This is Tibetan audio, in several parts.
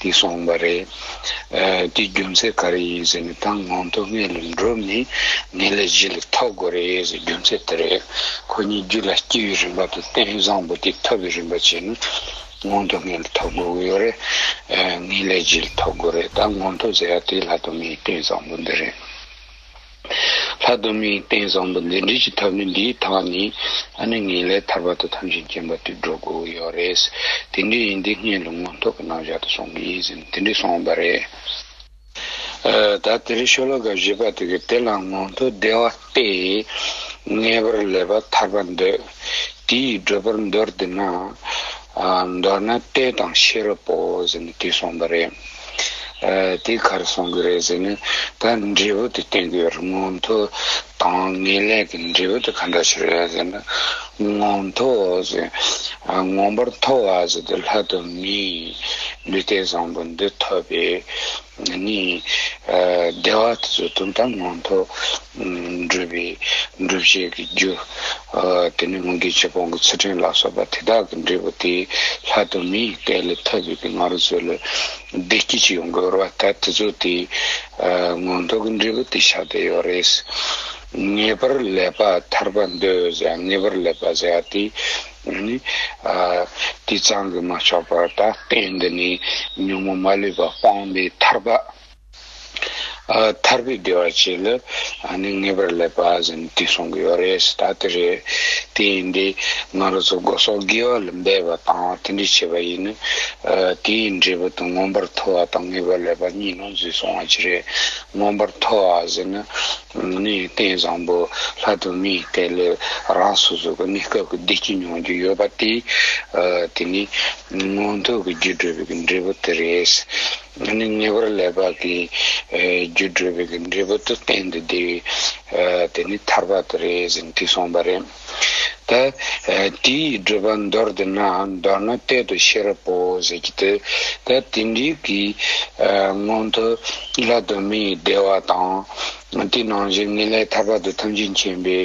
དེ་གསུངས་པ་རེད། དེའི་རྒྱུ་མཚན་ག་རེ་ཡིན་ཟེར་ནས་ད་ངང་དུ་ངེད་ལ་འགྲོ་མིན་ངེད་ལ་གཞི་ལ་ཐོགས་དགོས་རེད་ཟེར་རྒྱུ་མཚན་དེ་རེད། ཁོ་གཉིས་རྒྱུད་ལ་སྐྱེས་པའི་རིམ་པ་དང་རྟེན་བཟང་པོ་དེ་ཐོབ་པའི་རིམ་པ་བྱས་ན་ངང་དུ་ངེད་ལ་ཐོགས་དགོས་ཀྱི་ཡོད་རེད། ངེད་ལས་གཞི་ལ་ཐོགས་དགོས་རེད་ད་ངང་དུ་ཟེར་ཡ་དེའི་ལྷག་ཏུ་ངའི་རྟེན་བཟང་པོ་འདི་རེད། ལྷ་སྡོམ་མིའི་རྟེན་བཟང་པོ་འདི་འབྲི་ཀྱི་ཐབས་ནི་འདིའི་དག་ནི། ཨ་ནི་ངེས་ལེགས་ཐར་པ་དང་དམ་ཞིང་བརྒྱན་པ་དུད་འགྲོ་དགུ་ཡོད་རེད། དེ་འདྲའི་ཡིན་དུས་ངའི་ལུང་མང་ཐོག་གི་རྣམ་གཞག་དུ་སོང་གི་ཡིན་ཟེར་ནས་དེ་འདྲས་སོང་བ་རེད། ད་དེ་རིང་ཤོ་ལོ་ཀ་བཞི་པ་དེ་གའི་དེ་ལ་ངོ་མཐོ་བདེ་བ་སྟེ། ངེས་པར་ལེགས་པ་ཐར་པ་འདོད་དེ་ཡིས་བགྲོད་པར་འདོད་དེ་ན། མདོར་ན་ལྟས་དང་ཤེས་རབ་བོ་ཟེར་ནས་དེས་སོང་བ་རེད། དེ་གར་སོང་གི་རེད་ཟེར་ནས་ད་འབྲས་བུ་དེ་བསྟན་གི་རེད་ངོ་མཐོ་དང་ངེས་ལེགས་ཀྱི་འབྲས་བུ་དེ་ག་འདྲ་ཞིག་རེད་ཟེར་ན་ངོ་མཐོ་ཟེར་ངོ་འབར་མཐོ་བ་ཟེར་དེ་ལྷ་དང་མི་ལུས་རྟེན་བཟང་པོ་འདི་ཐོབ་པས་ནི་བདེ་བ་དེ་ཚོ་དོན་དམ་ངོ་མཐོ། འདྲུད་པའི་འདྲུབ་བྱེད་ཀྱི་རྒྱུ། དེ་ནས་སྔོན་གྱི་ཆོས་སྤོང་གི་ཚུལ་ཕྲན་ལ་སོགས་པ་དེ་དག་གི་འབྲས་བུ་དེའི་ལྷ་དུ་མས་བཀའི་ལས་ཐོབ་པའི་གི་ང་རོ་ཚོལ་ལོ། བདེ་སྐྱིད་ཅིག་ཡོང་གི་ཡོད་ར་བ་ད་དེ་ཚོ་དེའི་མངོན་རྟོགས་ཀྱི་འབྲས་བུ་དེ་ཆགས་བསྡད་ཡོད་རེད། ངེས་པར་ལེགས་པ་ཐར་པ་འདོད་ཟེར་ཡ་ངེས་པར་ལེགས་པ་ཟེར་ཡ་དེ་ནི་དེ་ཙམ་གྱིས་མ་ཆོག་པར་ད་ལྟའི་འདི་ནས་ཉོན་མོངས་མ་ལུས་པ་སྤངས་པའི་ཐར་པ། ཐར་པའི་བདེ་བ་བཅས་ལ་ནི་ངེས་པར་སླེབ་པ་ཟིན་ཏེ་གསུང་གི་ཡོད་རེད་ད་དེ་རེད། དེ་ཡིན་དུས་ང་རོ་ཚོ་སྒོ་ཟོག་དགེ་བ་ལ་འབད་པ་དང་དེ་འདྲས་བྱེད་པ་ཡིན་ན། དེའི་འབྲས་བུ་དང་མངོན་པར་མཐོ་བ་དང་ངེས་པར་སླེབ་པ་གཉིས་ནང་ཚུད་སོང་བ་ཅི་རེད། མངོན་པར་མཐོ་བ་ཟེར་ན་ནི་རྟེན་བཟང་པོ་ལྷ་དུ་མའི་རྟེན་ལས་རང་སོ་སོ་གི་གནས་སྐབས་ཀྱི་བདེ་སྐྱིད་མྱོང་རྒྱུ་ཡོད་པ་དེ། དེ་ནི་མངོན་མཐོ་གི་རྒྱུ་འགྲུབ་པའི་འབྲས་བུ་དེ་རེད། ང་ནི་ཉེ་བར་ལས་དཔག་གི་རྒྱུ་བགྲོད་པའི་འབྲས་བུ་དུ་བསྟན་ཏེ་དེ་དེ་ནི་ཐར་པ་དེ་རེད་ཟེར་དུས་སོང་པ་རེད། ད་དེའི་བགྲོད་པ་མདོར་བསྡུ་ན་མདོར་ན་གཏད་དོ་ཤེས་རབ་པོ་ཟེར་གྱི་དེ་ད་དེ་འདྲའི་གི་སྔོན་དུ་ལྷ་གདོད་མའི་བདེ་བ་དང། དེ་ནང་བཞིན་ངེས་ལེགས་ཐར་པ་དུ་ཐམས་ཅད་མཁྱེན་པའི་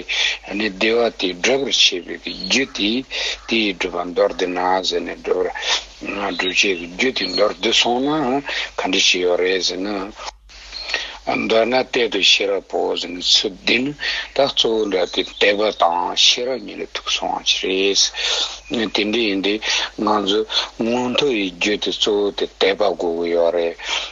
ནི་བདེ་བ་དེ་བགྲོད་པར་བྱེད་པའི་གི་རྒྱུ་དེ་དེའི་བགྲོད་པ་མདོར་བསྡུ་ན་ཟེར་ནས་བགྲོད་པར། སྒྲུབ་བྱེད་ཀྱི་རྒྱུ་དེ་མདོར་བསྡུས་སོང་ན་ག་འདྲ་ཞིག་ཡོད་རེད་ཟེར་ན། མདོར་ན་གཏེར་དུ་ཤེས་རབ་བོ་ཟེར་ནས་ཚུལ་བསྟན་ནས་ད་གཙོ་བོ་འདྲ་སྟེ་དད་པ་དང་ཤེས་རབ་གཉིས་ལ་ཐུག་སོང་བ་ཞིག་རེད། དེ་འདྲ་ཡིན་དུས་ང་ཚོས་མངོན་མཐོ་ཡི་རྒྱུ་དེ་གཙོ་བོ་དེ་དད་པ་དགོས་ཀྱི་ཡོད་རེད།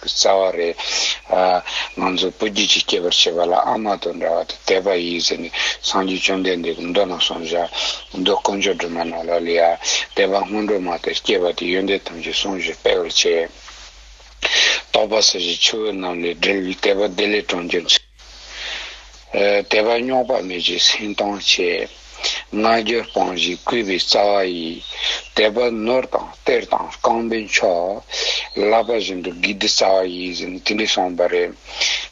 གི་རྩ་བ་རེད། ང་ཚོ་སྤུ་རྒྱུད་ཀྱི་སྐྱེས་པར་བྱེད་པ་ལ་ཨ་མ་དང་འདྲ་བ་དེ་དད་པ་ཡིན་ཟེར་ནས་སངས་རྒྱས་བཅོམ་ལྡན་འདས་ཀྱི་མདོ་ནང་གསུངས་བཞག་མདོ་དཀོན་མཆོག་སྒྲོལ་མ་ནོར་ལོག་ལས་ཡ། དད་པ་སྔོན་འགྲོ་མ་དེ་སྐྱེས་པ་དེ་ཡོན་ཏན་ཐམས་ཅད་ཟུང་བཞིན་སྤེལ་བར་བྱེད། རྟོགས་པ་ཟེར་བཞིན་ཆུ་བོ་རྣམས་ལས་སྒྲིལ་བའི་དད་པ་བདེ་ལེགས་གྲོང་ཁྱེར། དད་པ་རྙོག་པ་མེད་ཅིང་སེམས་གཏོང་བྱེད། སྔ་འགྱུར་སྤངས་ཤིང་བསྐུལ་བའི་རྩ་བ་ཡིས། དད་པ་ནོར་དང་གཏེར་དང་རྐང་པའི་མཆོག། བསླབ་པ་བཞིན་དུ་དགེ་སྡིག་རྩ་བ་ཡིས། དེ་འདྲས་གསུངས་པ་རེད།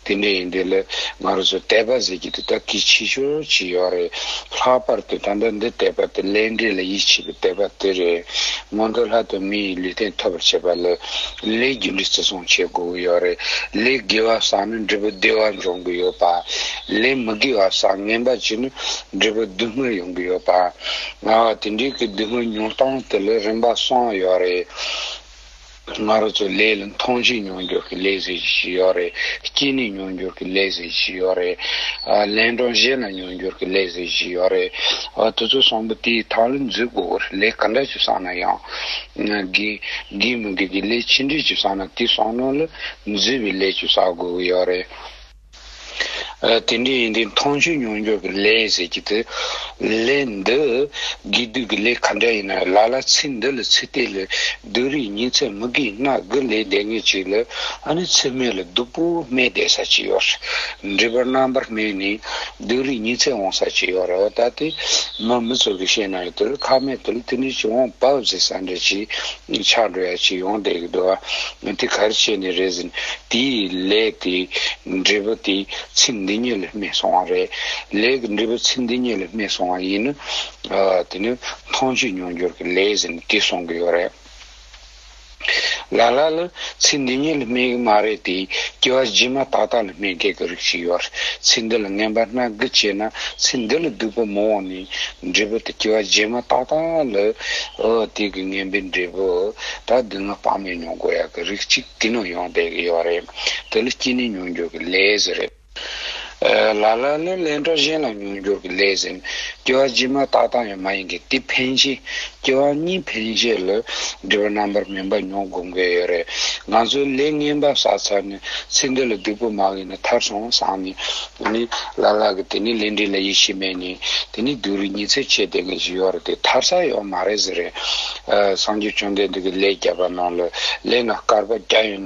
དེ་འདྲས་ཡིན། དེ་ལས་ང་རོ་ཚོས་དད་པ་ཟེར་གྱི་དེ་དག་གིས་ཕྱི་ཞོར་གྱི་ཡོད་རེད། ལྷག་པར་དུ་ད་ལྟ་འདི་དད་པ་དེ་སླད་འབྲས་ལ་ཡིད་ཆེས་པའི་དད་པ་དེ་རེད། སྔོན་དུ་ལྷ་དང་མི་ཡི་ལུས་རྟེན་ཐོབ་པར་བྱེད་པ་ལས། ལས་རྒྱུ་འབྲས་བརྩི་སྲུང་བྱེད་དགོས་ཀྱི་ཡོད་རེད། ལས་དགེ་བ་བསགས་ན་འབྲས་བུ་བདེ་བ་འབྱུང་གི་ཡོད་པ། ལས་མི་དགེ་བ་བསགས་ངན་པ་བྱས་ན་འབྲས་བུ་སྡུག་བསྔལ་ཡོང་གི་ཡོད་པ། ང་བ་དེ་འདྲའི་གི་སྡུག་བསྔལ་མྱོང་སྟངས་དེ་ལས་རིམ་པ་གསུངས་ཡོད་རེད། ང་རོ་ཚོས་ལས་ལ་མཐོང་ཆེན་མྱོང་འགྱུར་གྱི་ལས་ཟེར་གྱི་ཞིག་ཡོད་རེད། སྐྱེས་ནས་མྱོང་འགྱུར་གྱི་ལས་ཟེར་གྱི་ཞིག་ཡོད་རེད། ལན་གྲངས་བཞེས་ན་མྱོང་འགྱུར་གྱི་ལས་ཟེར་གྱི་ཞིག་ཡོད་རེད། དེ་ཚོ་བསམ་པོ་དེའི་ཐང་ལ་འཛུལ་དགོས་གི་རེད་ལས་ག་འདྲ་ཞིག་བསགས་ན་ཡང། དགེ་མི་དགེ་གི་ལས་ཅི་འདྲའི་ལྕི་བསགས་ན་དེ་བསགས་ནོ་ལ་མཛེས་པའི་ལས་ཀྱང་བསགས་དགོས་ཀྱི་ཡོད་རེད། དེ་འདྲས་ཡིན་དུས་མཐོང་ཆོས་མྱོང་འགྱོད་ཀྱི་ལས་ཟེར་གྱི་དེ་ལས་འདི་དགེ་སྡིག་གི་ལས་ག་འདྲ་ཡིན་ན་ལ་ལ་ཚེ་འདི་ལ་ཚེ་གཏད་ལ་སྡུག་རིགས་ཉིན་ཚད་མི་དགེ་སྣ་དགུ་ལས་འདས་ངེས་ཅིག་ལ་ཨ་ནི་ཚེ་སྨད་ལ་སྡུག་པོ་སྨད་བསྡད་ས་ཅིག་ཡོད་རེད་འདྲིས་པར་རྣམ་པར་སྨད་ནས་སྡིག་རིགས་ཉི་ཚེ་འོང་ས་ཅི་ཡོད་རེ་བ་ལྟ་སྟེ། མ་མི་ཚོགས་ཀྱི་ཤེས་ནའི་དུར་ཁ་མེད་དུ་དེ་ནས་ཅི་འོང་བབས་ཟེར་ས་འདྲ་གྱིས། ཆགས་འགྲོ་ཡ་གྱིས་ཡོང་བསྡད་ཀྱི་འདུག་ཨ། དེ་གར་ཆས་ནས་རེ་ཟིན། དེའི་ལས་དེ་འབྲས་བུ་དེ་ཚེ་འདི་ཉིད་ལ་སྨིན་སོང་བ་རེད། ལས་ཀྱི་འབྲས་བུ་ཚེ་འདི་ཉིད་ལ་སྨིན་སོང་བ་ཡིན་ན། དེ་ནི་མཐོང་བྱེད་མྱོང་འགྱུར་གྱི་ལས་ཟིན་གྱིས་སོང་གི་ཡོད་རེད། ལ་ལ་ལ། ཚིག་འདི་ཉིད་ལ་སྨྲས་གི་མ་རེད་དེ། སྐྱེ་བ་རྗེས་མ་ཏག་ཏག་ལ་སྨྲས་མཁན་གྱི་རིགས་ཤིག་ཡོད། ཚིག་འདི་ལ་ངན་པ་སྣ་དགུ་བྱས་ན་ཚིག་འདི་ལ་སྡུག་པ་མི་འོང་ནི། འབྲས་བུ་དེ་སྐྱེ་བ་རྗེས་མ་ཏག་ཏག་ལ། འོ་དེ་གི་ངན་པའི་འབྲས་བུ། ད་སྡུག་བསྔལ་དཔག་མེད་མྱོང་དགོས་ཡག་གི་རིགས་ཅིག་དེ་ནང་ཡོང་བསྡད་གི་ཡོད་རེད། དེ་ལ་སྐྱིད་ནི་མྱོང་འགྱོད་ཀྱི་ལས་སུ་རེད། ལ་ལ་ལས་ལས་འགྲོ་གཞན་ལ་མྱོང་འགྱུར་གྱི་ལས་ཟིན། སྐྱེ་བ་ཇི་མ་ཏག་ཏག་ཡང་མ་ཡིན་གྱི་དེ་ཕན་ཆེ། སྐྱེ་བ་གཉིས་ཕན་བྱེད་ལ་འབྲེལ་བ་རྣམ་པར་སྨིན་པ་མྱོང་དགོས་མཁན་ཡོད་རེད། ང་ཚོའི་ལས་ངན་པ་བསགས་ཚར་ནས་ཚེ་འདི་ལ་སྡིག་པོ་མང་ཡིན་ན་ཐར་སོང་བསམ་ནས་དེ་ནས་ལ་ལ་གི་དེ་ནས་ལས་འབྲས་ལ་ཡིད་ཆེས་མེད་ནས་དེ་ནས་སྡུག་རུས་ཉི་ཚེ་བྱས་བསྡད་མཁན་ཞིག་ཡོད་རེད་དེ་ཐར་ས་ཡོད་མ་རེད་ཟེར། སངས་རྒྱས་བཅོམ་ལྡན་འདས་ཀྱི་ལས་བརྒྱ་པ་ནང་ལ་ལས་སྣ་དཀར་པོ་བརྒྱ་ཡོད།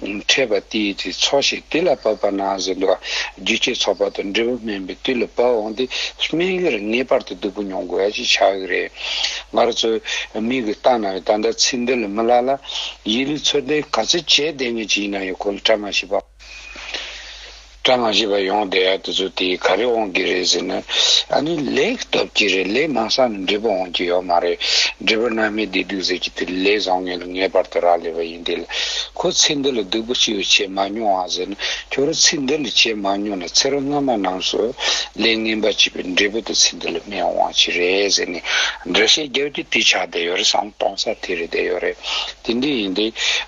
ཕྲད་པ་དེའི་དུས་ཚོགས་ཤིག་དུས་ལ་བབ་པ་ན་གཟོད་འདུག་རྒྱུ་སྤྱིའི་ཚོགས་པ་དང་འབྲས་བུ་སྨིན་པའི་དུས་ལ་བབ་འོང་དུས་སྨིན་ཡུལ་ངེས་པར་དུ་སྡུག་པོ་མྱོང་དགོས་ཡ་ཞིག་ཆགས་ཀྱི་རེད། ང་རོ་ཚོས་མིག་གིས་བལྟ་ན་ད་ལྟ་ཚིག་འདི་ལས་མི་ལ་ལ། ཡིད་ལུས་ཚོར་འདི་ག་ཚོད་བྱས་བསྡད་ངེས་ཅི་ཡིན་ན་ཡང་གོ་ལ་ཕྲ་མ་ཞིག་པ། བཀྲ་མ་ཤིས་པ་ཡོང་བསྡད་ཡ་དེ་ཚོ་དེ་ག་རེ་འོང་གི་རེད་ཟེར་ན་ཨ་ནི་ལེགས་སྟོབས་ཀྱི་རེད་ལེགས་མང་ས་ནས་འབྲས་བུ་འོང་གི་ཡོད་མ་རེད་འབྲས་བུ་རྣལ་མའི་བདེ་སྡུག་ཟེར་གྱི་དེ་ལས་བཟང་ངན་ལ་ངེས་པར་དུ་རག་ལས་པ་ཡིན་དེ་ལ་ཁོ་ཚེ་འདི་ལ་སྡུག་པོ་ཅི་ཡོད་བྱས་མ་མྱོང་ཨང་ཟེར་ན་ཁྱོད་རང་ཚེ་འདི་ལ་བྱས་མ་མྱོང་ན་ཚེ་རབས་སྔ་མ་རྣམས་སུ་ལས་ངན་པ་བྱས་པའི་འབྲས་བུ་དེ་ཚེ་འདི་ལ་སྨིན་འོང་བ་ཅི་རེད་ཟེར་ནས་འདྲི་བཤད་རྒྱབ་ཀྱི་དུས་ཆགས་བསྡད་ཡོད་རེད་བསམ་གཏོང་ས་དེ་རེད་བསྡད་ཡོད་རེད། དེ་འདྲ་ཡིན་ཏེ།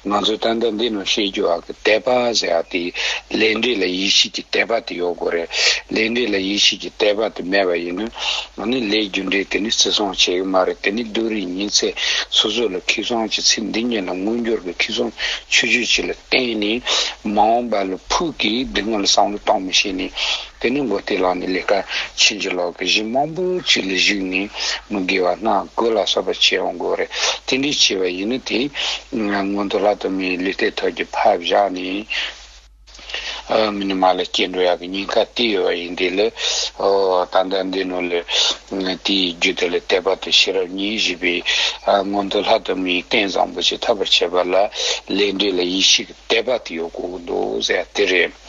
ང་ཚོས་ད་ལྟ་འདི་རྣམས་བཤད་རྒྱུ་ཨ་ཁུ་དད་པ་ཟེར་བ་དེ་ལས་འབྲས་ལ་ཡིད་ཆེས་ཀྱི་དད་པ་དེ་ཡོད་དགོས་རེད། ལས་འབྲས་ལ་ཡིད་ཆེས་ཀྱི་དད་པ་དེ་མེད་པ་ཡིན་ན། ནི་ལས་རྒྱུ་འབྲས་དེ་ནི་བརྩི་སྲུང་བྱེད་ཀྱི་མ་རེད་དེ་ནི་བདུད་རིགས་ཉི་ཚེ་སོ་སོ་ལ་ཁེ་བཟང་གྱི་ཚེ་འདི་ཉིད་ལ་དངོས་འབྱོར་གྱི་ཁེ་བཟང་ཆོས་ཆོས་ཅིག་ལ་བརྟེན་ནས། མ་འོངས་པ་ལ་ཕུགས་ཀྱི་སྡུག་བསྔལ་བསམ་བློ་གཏོང་མི་ཤེས་ནས། དེ་ནས་མགོ་སྟེ་ལག་ནས་ལས་ཀ་བྱིན་གྱིས་ལོག་གི་གཞི་མང་པོ་ཅིག་ལ་གཞིགས་ནས་མི་དགེ་བ་སྣ་དགུ་ལ་སོགས་པ་བྱེད་འོང་དགོས་རེད། དེ་འདྲའི་བྱེད་པ་ཡིན་ན་དེ་སྔོན་དུ་ལྷ་དུ་མའི་ལུས་རྟའི་ཐོག་གི་ཕབ་བཞག་ནས་མི་ནི་མ་ལ་སྐྱེ་འགྲོ་ཡག་གི་སྙིང་ཁ་གཏད་ཡོད་པ་ཡིན་དེ་ལས་ད་ལྟ་འདི་ནོར་ལུས་དེའི་རྒྱུ་དེ་ལ་དད་པ་དང་ཤེས་རབ་གཉིས་བཞི་པའི་སྔོན་དུ་ལྷ་དུ་མའི་རྟེན་བཟང་པོ་ཅིག་ཐོབ་པར་བྱེད་པ་ལ་ལས་འབྲས་ལ་ཡིད་ཆེས་ཀྱི་དད་པ་དེ་ཡོད་དགོས་ཀྱི་འདུག་ཟེར་ཡ་དེ་རེད།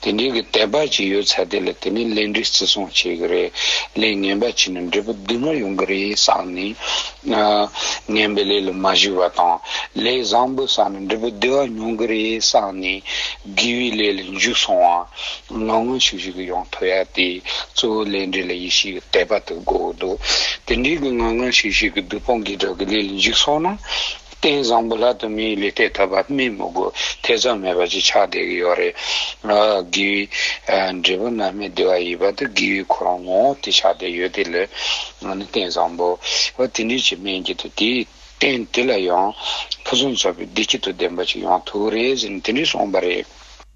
དེ་འབྲེལ་གྱི་དད་པ་ཅིག་ཡོད་ཚད་དེ་ལ་དེ་ནས་ལས་འབྲས་བརྩི་སྲུང་བྱེད་ཀྱི་རེད། ལས་ངན་པ་བྱས་ན་འབྲས་བུ་འདི་འདྲ་ཡོང་གི་རེད་བསམ་ནས། ངན་པའི་ལས་ལ་མ་གཞིགས་པ་དང། ལས་བཟང་པོ་བསགས་ན་འབྲས་བུ་བདེ་བ་མྱོང་གི་རེད་བསམ་ནས། དགེ་བའི་ལས་ལ་འཇུག་སོང་བ། ངང་ངང་ཤིག་ཤིག་གིས་ཡོང་ཐུབ་ཡ་དེ། གཙོ་བོ་ལས་འབྲས་ལ་ཡིད་ཆེས་ཀྱི་དད་པ་དེ་དགོས་འདུག་དེ་འབྲེལ་གྱི་ངང་ངང་ཤིག་ཤིག་གིས་བདུད་དཔུང་གིས་དགྲ་གི་ལས་ལ་འཇུག་སོང་ན། རྟེན་བཟང་པོ་ལ་དུ་མའི་ལུས་རྟེན་ཐོབ་པ་སྨིན་མི་དགོས་ཐེ་ཚོམ་མེད་པ་ཅིག་ཆགས་བསྡད་ཀྱི་ཡོད་རེད། དགེ་བའི་འབྲས་བུ་རྣམ་སྨིན་བདེ་བ་ཡིན་པ་དེ་དགེ་བའི་ཁོ་རང་ངོ་བོ་དེ་ཆགས་བསྡད་ཡོད་དེ་ལས་ང་ནི་རྟེན་བཟང་པོ། ཨོ་དེ་འདྲའི་ཆེ་དམན་བརྒྱད་དུ་དེའི་རྟེན་དེ་ལ་ཡང་ཕུན་སུམ་ཚོགས་པའི་བདེ་སྐྱིད་དོ་ལྡན་པ་ཅིག་ཡོང་ཐུག་རེ་ཟེར་ནས་དེ་འདྲས་སོང་པ་རེད།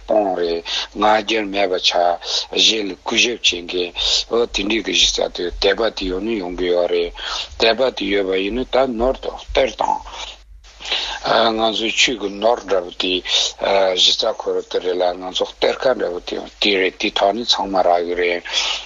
སྤོང་རེས་ང་རྒྱལ་མེད་པ་བྱ། གཞན་ལ་གུས་ཞབས་བྱེད་མཁན། ཨོ་དེ་འདྲའི་གི་གཞི་ས་དེ་དད་པ་དེ་ཡོད་ནི་ཡོང་གི་ཡོད་རེད། དད་པ་དེ་ཡོད་པ་ཡིན་ན་ད་ནོར་དང་གཏེར་དང། ང་ཚོའི་ཆོས་ཀྱི་ནོར་འདྲ་པོ་དེ་གཞི་ས་ཁོ་ར་དེ་རེད་ལ་ང་ཚོ་གཏེར་ཁ་འདྲ་པོ་དེ་ཡང་དེ་རེད་དེ་དག་ནི་ཚང་མ་རག་གི་རེད།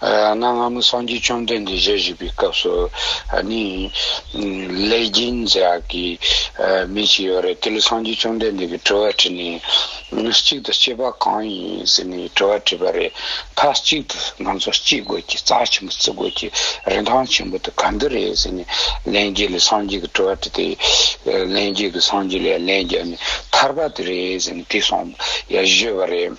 གནའ་སྔ་མོ་སངས་རྒྱས་བཅོམ་ལྡན་འདས་ཞལ་བཞེས་པའི་སྐབས་སུ་ནི། ལེགས་སྦྱིན་མཛད་ཨ་ཀི་མི་ཞིག་ཡོད་རེད་དེ་ལ་སངས་རྒྱས་བཅོམ་ལྡན་འདས་ཀྱིས་དྲི་བ་དྲིས་ནས། གཅིག་ཏུ་སྐྱེས་པ་གང་ཡིན་ཟེར་ནས་དྲི་བ་དྲིས་པ་རེད། མཐའ་གཅིག་ཏུ་ང་ཚོ་སྐྱེས་དགོས་ཀྱི་རྩ་ཆེན་པོ་བརྩི་དགོས་ཀྱི་རིན་ཐང་ཆེན་པོ་དེ་ག་འདི་རེད་ཟེར་ནས་ལན་རྒྱས་ལས་སངས་རྒྱས་ཀྱི་དྲི་བ་དྲིས་ཏེ། ལན་རྒྱས་ཀྱིས་སངས་རྒྱས་ལས་ལན་རྒྱས་ནས་ཐར་པ་དེ་རེད་ཟེར་ནས་དེ་སོང་ཡ་བཞེས་པ་རེད།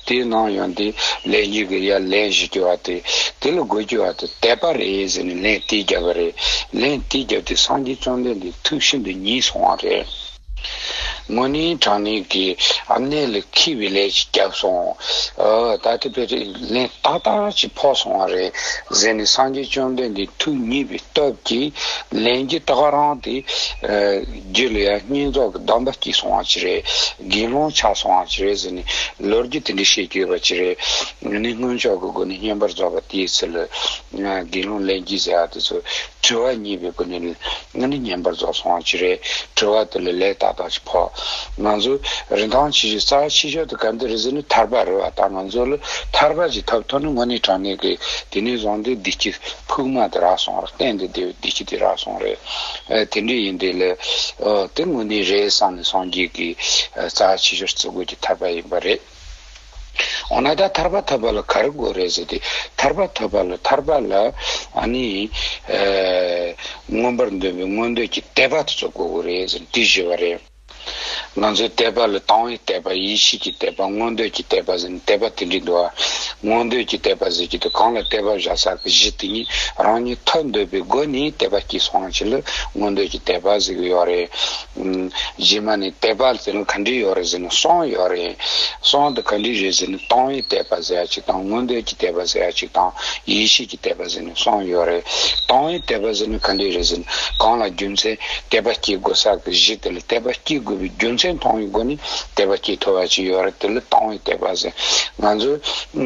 དེའི་ནང་ཡང་དེ་ལས་གཉིས་ཀྱི་ཡར་ལན་བཞི་རྒྱུ་བ་དེ་དེ་ལ་དགོས་རྒྱུ་བ་དེ་དད་པ་རེད་ཟེར་ནས་ལན་དེ་བརྒྱབ་པ་རེད། ལན་དེ་བརྒྱབ་དུས་སངས་རྒྱས་བཅོམ་ལྡན་འདས་ཐུགས་ཤིན་ཏུ་མཉེས་སོང་བ་རེད། དངོས་གནས་དྲང་གནས་ཀྱི་ཨ་ནེ་ལ་ཁེལ་བའི་ལན་ཞིག་བརྒྱབ་སོང། ད་ལྟའི་བར་དུ་ལན་ཏག་ཏག་ཅིག་ཕོག་སོང་བ་རེད་ཟེར་ནས་སངས་རྒྱས་བཅོམ་ལྡན་འདས་ཐུགས་མཉེས་པའི་སྟབས་ཀྱིས་ལན་གྱི་ཏག་རང་དེ། རྒྱུད་ལ་ཡང་བསྙེན་རྫོགས་ཀྱི་གདམས་པ་སྐྱེས་སོང་བ་ཅི་རེད། དགེ་སློང་ཆགས་སོང་བ་ཅི་རེད་ཟེར་ནས་ལོ་རྒྱུས་དེ་འདྲའི་བཤད་ཀྱི་ཡོད་པ་ཅི་རེད། ངས་ནི་སྔོན་ཆོག་གི་སྒོ་ནས་བསྙེན་པར་རྫོགས་པ་དེའི་ཚུལ། དགེ་སློང་ལན་གཅིག་ཟེར་བ་དེ་ཚོ་དྲི་བ་གཉིས་པའི་སྒོ་ནས་ལན། ང་ནི་བསྙེན་པར་རྫོགས་སོང་བ་ཅི་རེད། དྲི་བ་དེ་ལ་ལན་ཏག་ཏག་ཅིག་ཕོག། ང་ཚོས་རིན་ཐང་ཆེ་ཞིང་རྩ་བ་ཆེ་ཤོས་དེ་ག་འདི་རེད་ཟེར་ནས་ཐར་པ་རོལ་བ་དང་ང་ཚོ་ལ་ཐར་པ་ཅིག་ཐོབ་ཐུབ་ན་དངོས་གནས་དྲང་གནས་ཀྱི་དེ་ནས་བཟུང་སྟེ་བདེ་སྐྱིད་ཕུག་མ་དེ་རག་སོང་རེད་གཏན་དུ་བདེ་སྐྱིད་དེ་རག་སོང་རེད། དེ་འདྲས་ཡིན་དུས་ལ་དེ་དངོས་གནས་རེད་བསམ་ནས་སངས་རྒྱས་ཀྱི་རྩ་བ་ཆེ་ཆེར་བརྩི་དགོས་ཀྱི་ཐར་པ་ཡིན་པ་རེད། འོ་ན་ད་ཐར་པ་ཐོབ་པ་ལ་ག་རེ་དགོས་རེད་ཟེར་དུས་ཐར་པ་ཐོབ་པ་ལ་ཐར་པ་ལ་ནི་མངོན་པར་འདོད་པའི་མངོན་འདོད་ཀྱི་དད་པ་དེ་ཚོ་དགོས་གི་རེད་ཟེར་དུས་བཞི་བ་རེད། ང་ཚོའི་དད་པ་ལ་དང་བའི་དད་པ་ཡེ་ཤེས་ཀྱི་དད་པ་མངོན་འདོད་ཀྱི་དད་པ་ཟེར་ནས་དད་པ་དེ་འདྲའི་འདུལ་བ་མངོན་འདོད་ཀྱི་དད་པ་ཟེར་གྱི་འདུག་གང་ལ་དད་པ་བཞག་ས་གི་གཞི་དེ་ཉིད་རང་ཉིད་ཐོབ་འདོད་པའི་སྒོ་ནས་དད་པ་སྐྱེས་སོང་བ་ཞིག་ལ་མངོན་འདོད་ཀྱི་དད་པ་ཟེར་གི་ཡོད་རེད། རྗེས་མ་ནས་དད་པ་ཟེར་ན་ག་འདྲའི་ཡོད་རེད་ཟེར་ན་གསུམ་ཡོད་རེད། གསུམ་དེ་ག་འདྲའི་རེད་ཟེར་ན་དང་བའི་དད་པ་ཟེར་ཡ་གཅིག་དང་མངོན་འདོད་ཀྱི་དད་པ་ཟེར་ཡ་གཅིག་དང་ཡེ་ཤེས་ཀྱི། དད་པ་ཟེར་ནས་སོང་ཡོད་རེད། དང་བའི་དད་པ་ཟེར་ནས་ག་འདྲས་རེད་ཟེར་ན། གང་ལ་རྒྱུ་མཚན་དད་པ་སྐྱེ་དགོས་ས་གི་གཞི་དེ་ལ་དད་པ་སྐྱེ་དགོས་པའི་རྒྱུ་མཚན་མཐོང་བའི་སྒོ་ནས་དད་པ་སྐྱེ་ཐུབ་པ་ཅིག་ཡོད་རེད་དེ་ལ་དང་བའི་དད་པ་ཟེར། ང་ཚོ་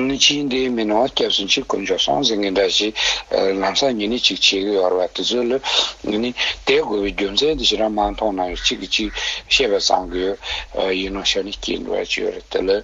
ནི་ཕྱིའི་འདས་མི་ནང་བ་སྐྱབས་སུ་མཆི་དཀོན་མཆོག་སོང་ཟིན་གི་འདྲ་ཞིག་ལམ་སང་ཉེ་གནས་ཅིག་བྱེད་གི་ཡོད་རེད་བ་དེ་ཚོ་ལ་ནི་དད་དགོས་པའི་རྒྱུ་མཚན་དེ་ཤི་རང་མ་མཐོང་ན་ཡང་གཅིག་གིས་གཅིག་བཤད་པ་ཙམ་གྱི་ཡིན་ནོ་ཞེས་ནས་སྐྱེ་དགོས་པ་ཅིག་ཡོད་རེད་དེ་ལ།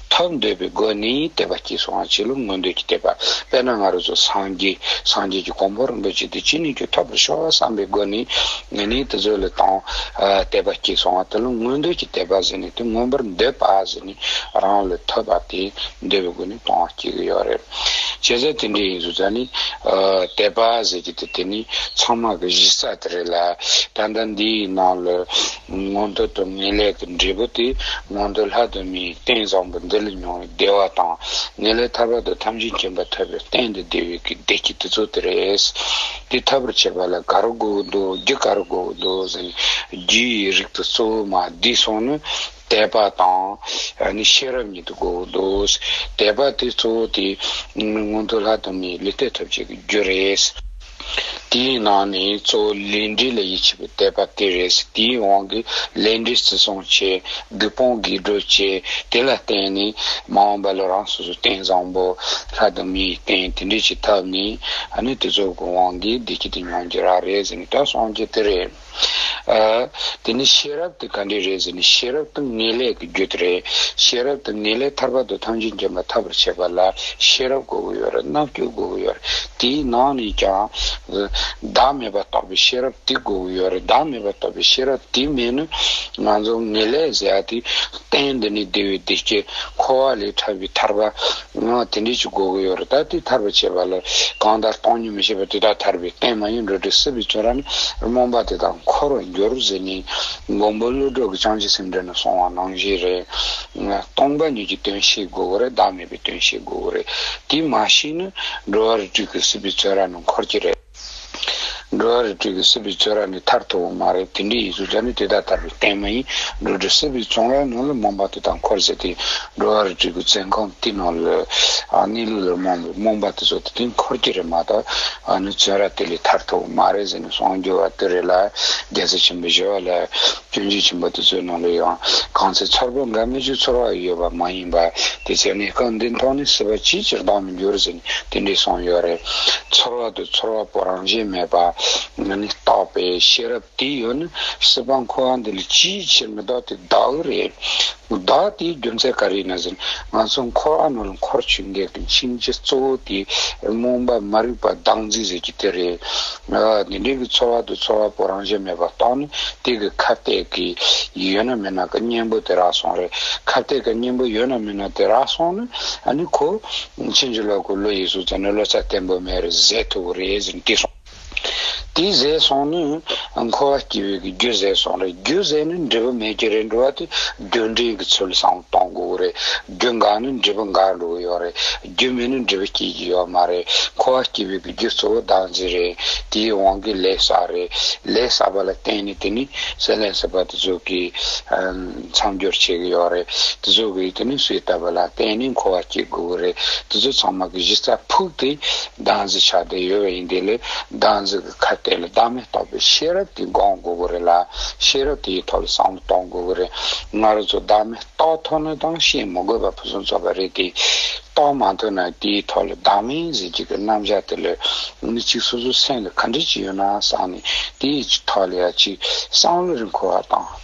ཐར་འདོད་པའི་སྒོ་ནི་བསྟན་པ་སྐྱེས་སོང་བ་བྱིས་བློ་མངོན་འདོད་ཀྱི་དད་པ་དཔེར་ན་ང་རོ་ཚོ་སངས་རྒྱས་སངས་རྒྱས་ཀྱི་གོང་བུར་འདོད་ཅིག་དེ་ཅི་ནུས་ཀྱིས་ཐོབ་པར་ཤོག་བསམ་པའི་སྒོ་ནི་ནི་དེ་ཚོའི་ལས་དང། དད་པ་སྐྱེས་སོང་བ་དེ་བློ་མངོན་འདོད་ཀྱི་དད་པ་ཟེར་ནས་དེ་མངོན་པར་འདོད་པ་ཟེར་ནས་རང་ལས་ཐོས་པ་དེ་འདོད་པའི་སྒོ་ནི་དང་སྐྱེ་གི་ཡོད་རེད། བྱས་ཙང་དེ་འདྲས་ཡིན་ཟུར་ཙང་ནི། དད་པ་ཟེར་གྱི་དེ་དེ་ནི་ཚང་མ་གི་གཞི་རྩ་དེ་རེད་ལ། ད་ལྟ་འདིའི་ནང་ལ། སྔོན་དུས་དུ་ངེས་ལེགས་ཀྱི་འབྲས་བུ་དེ་སྔོན་དུས་ལྷ་དུ་མའི་རྟེན་བཟང་པོ་འདི་ལས་མྱོང་བའི་བདེ་བ་དང། ངེས་ལེགས་ཐར་པ་དང་ཐམས་ཅད་མཁྱེན་པ་ཐོབ་པའི་རྟེན་འདི་བདེ་བའི་གེགས་བདེ་སྐྱིད་དེ་ཚོ་དེ་རེད། དེ་ཐོབ་པར་བྱེད་པ་ལ་ག་རུ་དགོས་འདུག་རྒྱུ་ག་རུ་དགོས་འདུག་ཟེར་ནས་རྒྱུ་ཡི་རིགས་དང་གཙོ་བོ་མ་བསྡུས་སོང་ནི། དད་པ་དང། ཤེས་རབ་གཉིས་དུ་དགོས་འདུག། དད་པ་དེ་གཙོ་བོ་དེ། སྔོན་དུས་ལྷ་དུ་མའི་ལུས་རྟེན་ཐོབ་བྱེད་ཀྱི་རྒྱུ་རེད། དེའི་ནང་ནས་གཙོ་བོ་ལས་འབྲས་ལ་ཡིད་ཆེས་པའི་དད་པ་དེ་རེད་ཟེར། དེའི་དབང་གིས་ལས་འབྲས་བརྩི་སྲུང་བྱས། སྒེར་དཔུང་སྒེར་སྒྲོལ་བྱས། དེ་ལ་བརྟེན་ནས་མ་འོངས་པ་ལ་རང་སོ་སོའི་རྟེན་བཟང་པོ། ལྷ་དང་མིའི་རྟེན་དེ་འདྲས་བྱེད་ཐབས་ནི། ཨ་ནི་དེ་ཚོ་གི་དབང་གིས་བདེ་སྐྱིད་དང་མྱོང་རྒྱ་རག་རེད་ཟེར་ནས་ད་སོང་རྒྱུ་དེ་རེད། དེ་ནས་ཤེས་རབ་དེ་ག་འདྲས་རེད་ཟེར་ནས་ཤེས་རབ་དང་ངེས་ལེགས་ཀྱི་རྒྱུད་དུ་རེད། ཤེས་རབ་དང་ངེས་ལེགས་ཐར་པ་དང་ཐང་ཆེན་འཇོམས་པ་ཐར་པར་བྱེད་པ་ལ་ཤེས་རབ་དགོས་ཀྱི་ཡོད་རེད་རྣམ་དཔྱོད་དགོས་ཀྱི་ཡོད་རེད་དེའི་ནང་ནས་ཀྱང། བདག་མེད་པ་རྟོགས་པའི་ཤེས་རབ་དེ་དགོས་ཀྱི་ཡོད་རེད་བདག་མེད་པ་རྟོགས་པའི་ཤེས་རབ་དེ་མེད་ན། ང་ཚོ་ངེས་ལེགས་ཟེར་ཡ་དེ་བསྟན་འདི་ནི་བདེ་བའི་སྡེ་བརྒྱད་འཁོར་བ་ལས་ཐར་བའི་ཐར་པ། དེ་འདྲའི་ཆུ་བགོ་དགོས་ཡོད་རེད་ད་དེ་ཐར་པ་བྱེད་པ་ལ་གང་ལྟར་སྟོང་ཉིད་མི་ཤེས་པ་དེ་དག་ཐར་པའི་རྟེན་མ་ཡིན་འགྲོ་དྲུག་སྲིད་པའི་ཆོས་ར་ནི་རྨོངས་པ་དེ་དག་འཁོར་བར་འགྱུར་ཟེར་ནས་མགོན་པོ་ཀླུ་སྒྲུབ་ཀྱི་བྱང་ཆུབ་སེམས་འགྲེལ་ནས་གསུང་བ་ནང་བཞིན་རེད། སྟོང་པ་ཉིད་ཀྱི་དོན་ཤེས་དགོས་རེད་བདག་མེད་པའི་དོན་ཤེས་དགོས་རེད་དེ་མ་ཤེས་ན་འགྲོ་བ་རིགས་དྲུག་གི་སྲིད་པའི་ཆོས་ར་ནི་འཁོར་གྱི་རེད། འགྲོ་བ་རི་ཁྲོད་ཀྱི་སྲིད་པའི་ཚོད་ར་ནི་ཐར་ཐོར་བོ་མ་རེད་དེ་འདྲའི་ཡིག་གཟུགས་ཅན་ནི་དེ་དག་ལྟར་བའི་རྟེན་མ་ཡིན། འགྲོ་གྲི་སྲིད་པའི་ཚོང་རའི་ནང་ལ་མོ་འབའ་དེ་དག་འཁོར་ཟེར་ཏེ། འགྲོ་བ་རི་ཁྲོད་ཀྱི་བཙན་ཁང་དེའི་ནང་ལ་གནས་ལུགས་ལ་རྨོངས་པའི་མོ་འབའ་དེ་ཚོ་དེ་དུས་འཁོར་གྱི་རེད་མ་གཏོགས་ཨ་ནི་ཚོན་ར་དེ་ལས་ཐར་ཐོར་བོ་མ་རེད་ཟེར་ནས་གསུང་རྒྱུ་བ་དེ་རེད་ལ་རྒྱལ་རྩེ་ཆེན་པོའི་བཞི་བ་ལ་སྐྱོན་བརྗོད་བྱིན་པ་དེ་ཚོའི་ནང་ལོ་ཡང་གང་ཚེ་ཚོར་བ་འགའ་མི་ཆོས་ཚོར་བ་ཡོད་པ་མ་ཡིན་པ་དེ་ཚོས་གནས་སྐབས་འདི་མཐོང་ནས་སྲིད་པ་ཅིའི་ཕྱིར་ལྡང་མི་འགྱུར་ཟེར་ནས་དེ་འདྲས་སོང་ཡོད་རེད། ཚོར་བ་དུ་ཚོར་བ་པོ་རང་བཞིན་མེད་པ་ནི་རྟོགས་པའི་ཤེས་རབ་དེ་ཡོད་ན་སྲིད་པ་འཁོར་བ་འདི་ལ་ཅིའི་ཕྱིར་མི་ལྡོག་དེ་ལྡོག་གི་རེད། བདག་དེའི་རྒྱུ་མཚན་ག་རེ་ན་ཟེར་ན་ང་ཚོ་འཁོར་ཨ་ནོར་འཁོར་ཆུ་འགག་གི་འཆིང་བྱེད་གཙོ་བོ་དེ་རྨོངས་པ་མ་རིག་པ་སྡང་རྫིག་ཟེར་གྱི་དེ་རེད། དེ་འདྲའི་གི་ཚོར་བ་དེ་ཚོར་བ་པོ་རང་གཞན་མེད་པ་རྟོགས་ནས་དེ་གི་ཁ་གཏད་གི་ཡོད་ན་མེད་ན་གི་གཉེན་པོ་དེ་རག་སོང་རེད་ཁ་གཏད་གི་གཉེན་པོ་ཡོད་ན་མེད་ན་དེ་རག་སོང་ན་ཨ་ནི་ཁོ་ཕྱིན་ཅི་ལོག་གི་བློ་ཡིས་སུ་ཙམ་ནས་བློ་རྩ་བརྟན་པོ་མེད་རེད་ཟེར་ཐུབ་རེད་ཟེར་ནས་བལྟས་སོང། དེའི་ཟས་སོང་ནི། འཁོར་བ་སྐྱེ་བོའི་གི་རྒྱུ་ཟས་སོང་རེད། རྒྱུ་ཟས་ནི་འབྲས་བུ་མེད་ཀྱི་རེད་འགྲོ་བ་དེ་རྒྱུ་འབྲས་གི་ཚུལ་བཟང་པོ་གཏོང་དགོས་རེད། རྒྱུ་འགག་ནི་འབྲས་བུ་འགག་འགྲོ་གི་ཡོད་རེད། རྒྱུ་མེད་ནི་འབྲས་བུ་སྐྱེ་གི་ཡོད་མ་རེད། འཁོར་བ་སྐྱེ་བོའི་གི་རྒྱུ་གཙོ་བོ་བདག་འཛིན་རེད། དེའི་དབང་གིས་ལས་བསགས་རེད། ལས་བསགས་པ་ལ་བརྟེན་ནས་དེ་ནི་སེམས་ལས་སད་པ་དེ་ཚོ་གི། མཚམས་སྦྱོར་བྱེད་གི་ཡོད་རེད། དེ་ཚོ་གི་དེ་ནི་སོས་བཏབ་པ་ལ་བརྟེན་ནས་འཁོར་བ་སྐྱེ་དགོས་གི་རེད། དེ་ཚོ་ཚང་མ་གི་གཞི་རྩ་ཕུག་དེ། སྡང་གཟི་ཆགས་བདེ་ཡོད་པ་ཡིན་དེ་ལས་སྡང་གཟི་གི་ཁ་གཏད་ལ་བདག་མེད་རྟོགས་པའི་ཤེས་རབ་ཀྱིས་སྒོང་དགོས་དགོས་རེད་ལ་ཤེས་རབ་དེའི་ཐོག་ལ་བསམ་བློ་གཏོང་དགོས་དགོས་རེད། ང་རོ་ཚོ་བདག་མེད་རྟོགས་ཐུབ་ན་ཐང་ཤེས་མི་དགོས་པ་ཕུན་སུམ་ཚོགས་པ་རེད་དེ། རྟོགས་མ་ཐུབ་ན་དེའི་ཐོག་ལ་བདག་མེད་གཟི་བརྗིད་ཀྱི་རྣམ་གཞག་དེ་ལས་མི་གཅིག་སོ་སོའི་སེམས་ལ་ག་འདྲི་ཅིག་ཡོད་ན་བསམ་ནས་དེའི་ཐོག་ལ་ཡང་གཅིག་བསམ་བློ་རེ་འཁོར་བ་དང།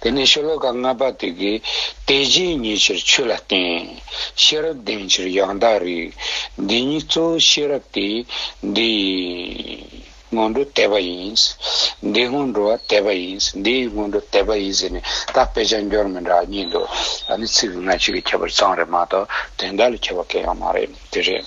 དེ་ནས་ཤོ་ལོ་ཀ་ལྔ་པ་དེ་གའི་དེ་རྗེས་ཉེ་ཕྱིར་ཆོས་ལ་བརྟེན། ཤེས་རབ་ལྡན་ཕྱིར་ཡང་དག་རིག། འདི་ཉིད་གཙོ་བོ་ཤེས་རབ་སྟེ། འདི་ཡི་སྔོན་འགྲོ་དད་པ་ཡིན། འདིའི་སྔོན་འགྲོ་བ་དད་པ་ཡིན། འདི་ཡི་སྔོན་འགྲོ་དད་པ་ཡིན་ཟེར་ནས་ད་དཔེ་ཆ་འགྱུར་མི་འདྲ་གཉིས་འདུག་ད་ནི་ཚིག་སྔ་ཕྱི་གི་ཁྱད་པར་ཙམ་རེད་མ་གཏོགས་དོན་དག་ལ་ཁྱད་པར་སྐྱེ་ཡོང་མ་རེད་དེ་རེད།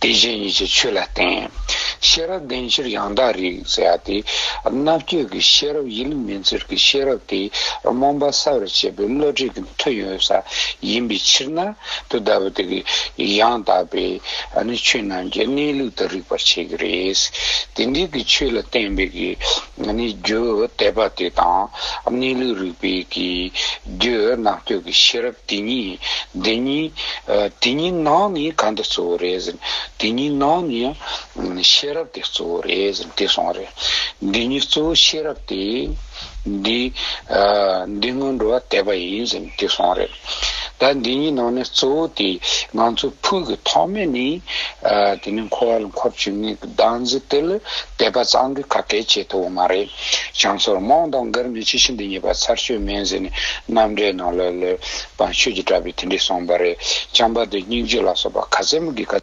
དེ་བཞིན་ཉིད་ཀྱི་ཆོས་ལ་བརྟེན། ཤེས་རབ་ལྡན་ཕྱིར་ཡང་དག་རིག། ཟེར་བ་དེ་རྣ་བཅོས་ཀྱི་ཤེས་རབ་ཡིན། མིང་ཚོར་གྱི་ཤེས་རབ་དེ་རྨོངས་པ་སྲ་བར་བྱེད་པའི་བློ་གྲོས་ཀྱི་མཐུ་ཡོད་ས་ཡིན་པའི་ཕྱིར་ན། དེ་ལྟ་བུ་དེ་ཡང་དག་པའི་ཆོས་རྣམས་ཀྱི་གནས་ལུགས་དུ་རིག་པར་བྱེད་ཀྱི་རེད། དེ་འདྲའི་ཆོས་ལ་བརྟེན་པའི་རྒྱུ་དད་པ་དེ་དང་གནས་ལུགས་རིག་པའི་རྒྱུ་རྣམ་གཅོད་ཀྱི་ཤེས་རབ་དེ་གཉིས་དེ་གཉིས་དེ་གཉིས་ནང་ནས་གང་དེ་གཙོ་བོ་རེད་ཟེར་དེ་གཉིས་ནང་ནས་ཤེས་རབ་དེ་གཙོ་བོ་རེད་ཟེར་དེ་སོང་རེད་འདི་གཉིས་གཙོ་བོ་ཤེས་རབ་དེ་འདི་སྔོན་འགྲོ་བ་དད་པ་ཡིན་ཟེར་དེ་སོང་རེད། ད་འདི་གཉིས་ནང་ནས་གཙོ་བོ་དེ་ང་ཚོའི་ཕུགས་ཀྱི་ཐོག་མེད་ནི། དེ་ནི་འཁོར་བ་ལ་འཁོར་བཅུ་གཉིས་ཀྱི་གདངས་རྒྱུད་དེ་ལ་དད་པ་གཙང་དགོས་ཁ་སྐད་བྱེད་ཐུབ་བོ་མ་རེད། བྱང་ཟོར་རྨོངས་དང་མགར་མི་ཆེ་ཆུང་འདི་གཉིས་པ་ཚར་གཅོད་མེད་ཟེར་ནས་རྣམ་འགྲེལ་ནང་ལ་ལོས་པང་ཆོས་ཀྱི་གྲྭ་པས་དེ་འདྲས་གསུངས་པ་རེད། བྱམས་པ་དེ་སྙིང་རྗེ་ལ་སོགས་པ་ག་ཚད་མོ་གིས་ག།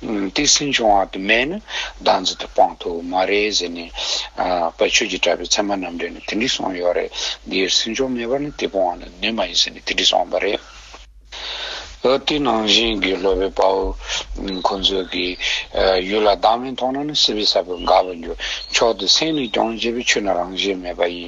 ཏིང་སིན་བྱུང་བ་དུ་མས་ནི་བདག་འཛིན་དུ་སྤངས་ཐུབ་མ་རེད་ཟེར་ནས་པ་ཆོས་ཀྱི་གྲྭ་པའི་ཚད་མ་རྣམས་འདྲེན་ནས་དེ་འདྲི་སོང་ཡོད་རེད་འདིར་སེམས་ཕྱོགས་མེད་པར་ནི་དེ་སྤོང་བ་ནི་ནུས་མ་ཡིན་ཟེར་ནས་དེ་འདྲི་སོང་བ་རེད། ཨོ་དེ་ནང་བཞིན་དགེ་སློབ་པའི་དཔའ་བོ་ཁོང་ཚོས་ཀྱི་ཡུལ་ལ་བདག་མེད་མཐོང་ན་ནི་སྲིད་པའི་ས་བོན་འགག་པར་འགྱུར་ཆོག་དེ་སེམས་ནས་སྐྱོང་བྱེད་པའི་ཆོས་ནི་རང་བཞིན་མེད་པ་ཡིན།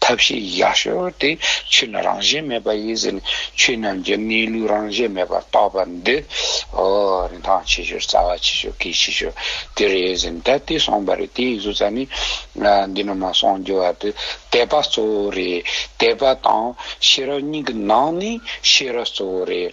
ཐབས་ཤེས་ཡ་ཤོས་དེ་ཆོས་རྣམས་རང་བཞིན་མེད་པ་ཡིན་ཟེར་ནས་ཆོས་རྣམས་ཀྱི་གནས་ལུགས་རང་བཞིན་མེད་པར་རྟོགས་པ་འདི། ཨོ། རིན་ཐང་ཆེ་ཤོས་རྩ་བ་ཆེ་ཤོས་གལ་ཆེ་ཤོས་དེ་རེད་ཟེར་ནས་ད་ལྟའི་གསུངས་པ་རེད་དེ་ཡིན་ཟུར་ཙམ་ནི། འདི་ནོར་མ་གསུངས་རྒྱུ་བ་དེ་དད་པ་གཙོ་བོ་རེད་དད་པ་དང་ཤེས་རབ་གཉིས་ཀྱི་ནང་ནས་ཤེས་རབ་གཙོ་བོ་རེད།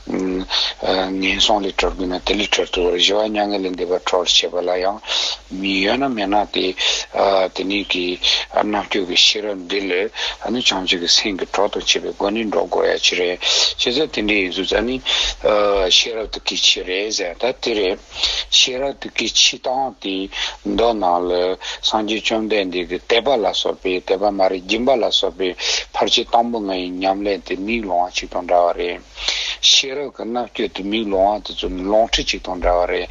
ངན་སོང་ལས་གྲོལ་དགོས་ན་དེ་ལས་གྲོལ་ཐུབ་བར་བཞི་བ་མྱ་ངན་ལས་འདས་པར་གྲོལ་བར་བྱེད་པ་ལ་ཡང་མི་གཡོ་ན་མེད་ན་སྟེ། དེ་ནས་ཀྱི་རྣམ་སྤྱོད་ཀྱི་ཤེས་རབ་འདི་ལས་ཨ་ནི་བྱང་ཆུབ་ཀྱི་སེམས་ཀྱི་གྲོགས་དང་བཅས་པའི་སྒོ་ནས་འགྲོ་དགོས་ཡ་ཅི་རེད། ཅི་ཟེར་དེ་འདྲའི་ཡིན་ཚུལ་ཙཱ་ནི། ཤེས་རབ་ཏུ་ཀི་ཆི་རེད་ཟེར་ད་དེ་རེད། ཤེས་རབ་ཏུ་ཀི་ཆི་སྟངས་དེ་མདོ་ནང་ལ་སངས་རྒྱས་བཅོམ་ལྡན་འདས་ཀྱི་དད་པ་ལ་སོགས་པའི་དད་པ་མ་རིག་སྦྱིན་པ་ལ་སོགས་པའི་ཕར་ཆེར་དང་པོ་ལྔ་ཡི་ཉམས་ལེན་དེ་མིག་ལོང་བ་གཅིག་དང་འདྲ་བ་རེད། ཤེས་རབ་ཀྱི་རྣམ་དཔྱོད་དུ་མིའི་ལུང་བ་དེ་ཚོ་ནི་ལོང་ཁྲི་གཅིག་དང་འདྲ་བ་རེད།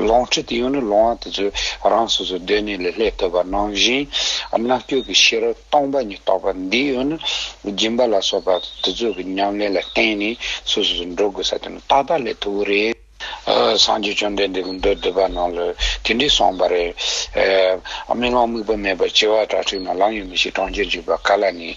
ལོང་ཁྲི་དེ་ཡང་ནི་ལུང་བ་དེ་ཚོས་རང་སོ་སོའི་སྡོད་གནས་ལས་ལྷད་བཏོད་པ་ནང་བཞིན། རྣམ་དཔྱོད་ཀྱི་ཤེས་རབ་སྟོང་པ་ཉིད་རྟོགས་པ་འདི་ཡང་ནི་སྦྱིན་པ་ལ་སོགས་པ་དེ་ཚོ་གི་ཉམས་ལེན་ལ་བརྟེན་ནས་སོ་སོ་སོ་འགྲོ་དགོས་ས་དེ་ནི་ཏག་ཏག་ལས་ཐུ་བོ་རེད། སངས་རྒྱས་བཅོམ་ལྡན་འདས་ཀྱི་མདོ་སྡེ་པ་རྣམས་ལ་དེ་འདྲས་གསུངས་པ་རེད། སྨྲེ་སྔགས་དམིགས་པ་མེད་པར་སྐྱེ་བ་དྲག་ཁྲིག་ན་ལམ་ཡོད་མི་ཤེས་གྲོང་ཁྱེར་འཇུག་པ་ག་ལ་ནི།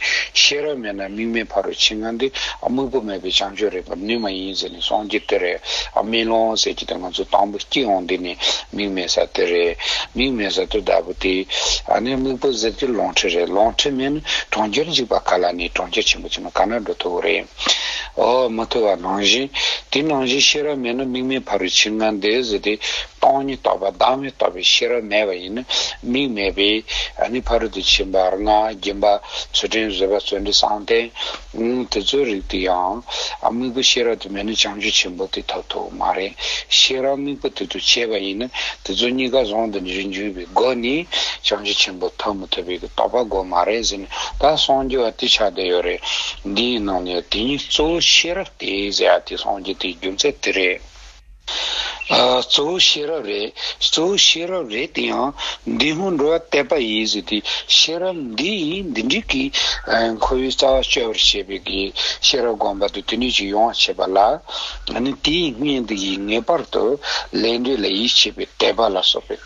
ཤེས་རབ་མེད་ན་དམིགས་མེད་ཕ་རོལ་ཕྱིན་ང་འདི་དམིགས་པ་མེད་པའི་བྱང་ཆུབ་རེག་པར་ནུས་མ་ཡིན་ཟེར་ནས་སངས་རྒྱས་དེ་རེད། སྨིན་ལོང་ཟེར་གྱི་དེ་ང་ཚོ་དང་པོ་སྐྱེས་འོང་འདི་ནི་དམིགས་མེད་ས་དེ་རེད། དམིགས་མེད་ས་དེ་ལྟ་བུ་དེ་ནི་དམིགས་པ་ཟེར་གྱི་ལོང་ཁྲིད་རེད་ལོང་ཁྲིད་མེད་ན་གྲོང་ཁྱེར་འཇུག་པ་ག་ལ་ནི་གྲོང་ཁྱེར་ཆེན་པོ་ཆེ་ན་ག་ན་འགྲོ་ཐུབ་བོ་རེད། འོག་མ་ཐོས་པ་ནང་བཞིན། དེ་ནང་བཞིན་ཤེས་རབ་མེད་ན་དམིགས་མེད་འཕར་བའི་ཕྱིར་ངང་འདས་ཟེར་ཏེ། སྟོང་ཉིད་རྟོགས་པ་བདག་མེད་རྟོགས་པའི་ཤེས་རབ་མེད་པ་ཡིན་ན་དམིགས་མེད་པས་ནི་ཕ་རོལ་ཏུ་ཕྱིན་པར་ང་རྒྱལ་འབའ། ཚུལ་ཁྲིམས་བཟོད་པ་བརྩོན་འགྲུས་གསང་བརྟན། དེ་ཚོའི་རིགས་དེ་ཡང། དམིགས་པ་ཤེས་རབ་དེ་མེད་ན་བྱང་ཆུབ་ཆེན་པོ་དེ་ཐོབ་ཐུབ་མ་རེད། ཤེས་རབ་དམིགས་པ་དེ་དུ་བྱས་པ་ཡིན་ན་དེ་ཚོ་གཉིས་ཀ་ཟུང་དུ་འཇུས་པའི་སྒོ་ནས་བྱང་ཆུབ་ཆེན་པོ་ཐོབ་མི་ཐུབ་པའི་རྟོགས་པ་དགོས་མ་རེད་ཟེར། ད་སངས་རྒྱས་བ་དེ་ཆགས་བསྡད་ཡོད་རེད། འདིའི་ནང་ནས་དེ་གཉིས་གཙོ་བོ་ཤེས་རབ་དེ་ཟེར་ཡ་དེ་སངས་རྒྱས་དེ་རྒྱུ་མཚན་དེ་རེད། གཙོ་བོ་ཤེས་རབ་རེད་གཙོ་བོ་ཤེས་རབ་རེད་དེ་ཡང་འདི་སྔོན་འགྲོ་བ་གཏད་པ་ཡིན་ཟེར་དེ་ཤེས་རབ་འདི་ཡིན་འདི་འགྲིག་གི། ཁོ་བོའི་རྩ་བ་གཅོད་པར་བྱེད་པའི་གི་ཤེས་རབ་བསྒོམ་པ་དེ་དུས་ནས་ཀྱི་ཡོང་བ་བྱེད་པ་ལ། ནི་དེའི་གཉེན་དུ་ཡིས་ངེས་པར་དུ་ལས་འབྲས་ལ་ཡིད་ཆེས་པའི་དད་པ་ལ་སོགས་པའི།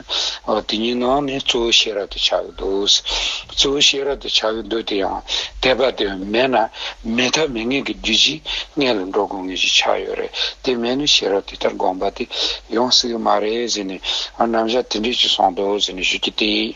དེ་ཉིད་ནང་ནས་གཙོ་བོའི་ཤེས་རབ་ཏུ་བྱ་ཡི་འདུག། གཙོ་བོའི་ཤེས་རབ་ཏུ་བྱ་ཡི་འདུག་དེ་ཡང་དད་པ་དེ་མེད་ན་མེད་ཐབས་མེད་ངེས་ཀྱི་རྒྱུ་ཅི་ངེས་ལ་འགྲོ་དགོས་ངེས་ཞེས་ཆ་ཡོད་རེད་དེ་མེད་ན་ཤེས་རབ་དེ་ལྟར་དགོངས་པ་དེ་ཡོང་སྲིད་ཀྱི་མ་རེད་ཟེར་ནས་རྣམ་གཞག་དེ་འདྲས་ཅིག་སོང་འདུག་ཟེར་ནས་ཞུ་རྒྱུ་དེ།